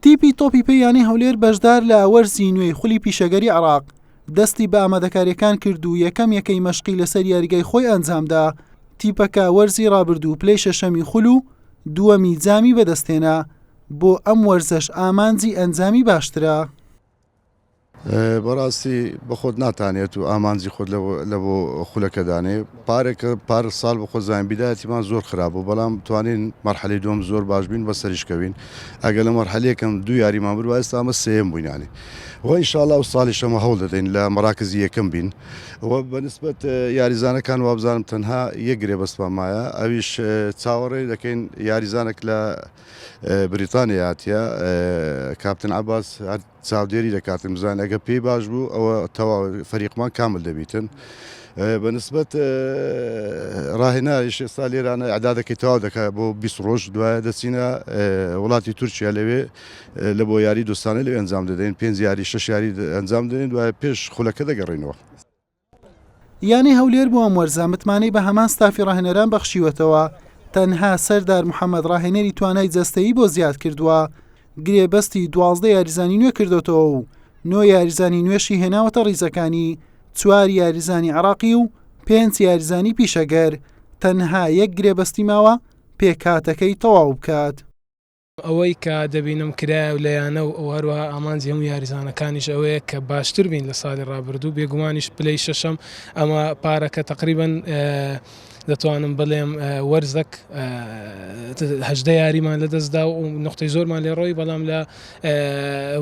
تیپی تۆپی پێ یانەی هەولێر بەشدار لە وەرزی نوێی خولی پیشەگەری عراق دەستی بە ئامادەکاریەکان کرد و یەکەم یەکەی مەشقی لەسەر یاریگای خۆی ئەنجامدا تیپەکە وەرزی رابردوو پلەی شەشەمی خول و دووەمی جامی بەدەستێنا بۆ ئەم وەرزەش ئامانجی ئەنجامی باشترە. بەڕاستی بەخۆت ناتانێت و ئامانجی خۆت لە بۆ خولەکەدانێ پارێکە پار ساڵ بەخۆ زانین بیداەتیمان زۆر خراپ و بەڵام توانین مەرحەلی دوم زۆر باش بین بە سەریشکەوین ئەگە لە مەرحەلەکەم دو یاریمان بر وایستا ئەمە سم بووینانی وای شاڵا و ساڵی شەمە هەوڵ دەدەین لە مەراکزی یەکەم بین و بەنسبەت یاریزانەکان وابزانم تەنها یەک گرێ بەستمان مایە ئەویش چاوەڕێ دەکەین یاریزانێک لە بریتانیای هاتیە کاپتن عباس هەر چاودێری دەکاتن بزان ئەگە پێی باش بوو ئەوە تەوا فەریقمان کامل دەبیتن بەنسبەت ڕاهێنایش ئێستا لێرانە عدادەکەی تەوا دەکات بۆ 20 ڕۆژ دوایە دەچینە وڵاتی تورکیا لەوێ لە بۆ یاری دوستانە لەوێ ئەنجام دەدەین پێنج یاری شش یاری ئەنجام دەدەین دوایە پێش خولەکە دەگەڕینەوە یانەی هەولێر بۆ ئەم وەرزە متمانەی بە هەمان ستافی ڕاهێنەران بەخشیوەتەوە، تەنها سەردار محەمەد ڕاهێنەری توانای جەستەیی بۆ زیاد کردووە، گرێبەستی دوازدە یاریزانی نوێ کردۆتەوە و نۆ یاریزانی نوێشی هێناوەتە ڕیزەکانی، چوار یاریزانی عێراقی و پێنج یاریزانی پیشەگەر، تەنها یەک گرێبەستی ماوە پێکهاتەکەی تەواو بکات. ئەوەی کە دەبینم کرایە و لە یانە و هەروەها ئامانجی هەموو یاریزانەکانیش ئەوەیە کە باشتر بین لە ساڵی ڕابردوو، بێگومانیش پلەی شەشەم ئەمە پارەکە تەقریبەن دەتوانم بڵێم وەرزەک هەژدە یاریمان لە دەست دا و نقطەی زۆرمان لێ ڕۆی بەڵام لە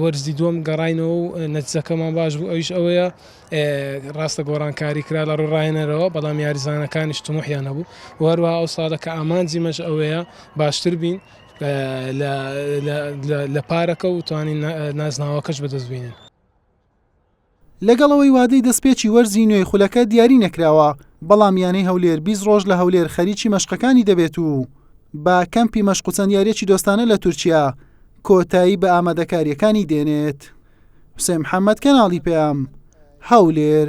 وەرزی دووەم گەڕاینەوە و نەتیجەکەمان باش بوو ئەویش ئەوەیە ڕاستە گۆڕانکاری کرا لە ڕووی ڕاهێنەرەوە بەڵام یاریزانەکانیش طموحیان هەبوو و هەروەها ئەو ساڵە کە ئامانجی مەش ئەوەیە باشتر بین لە پارەکە و توانین نازناوەکەش بەدەست بینین. لەگەڵ ئەوەی وادەی دەستپێکی وەرزی نوێی خولەکە دیاری نەکراوە، بەڵام یانەی هەولێر بیست ڕۆژ لە هەولێر خەریکی مەشقەکانی دەبێت و بە کەمپی مەشق و چەند یارییەکی دۆستانە لە تورکیا کۆتایی بە ئامادەکارییەکانی دێنێت. حوسێن محەممەد، کەناڵی پەیام، هەولێر.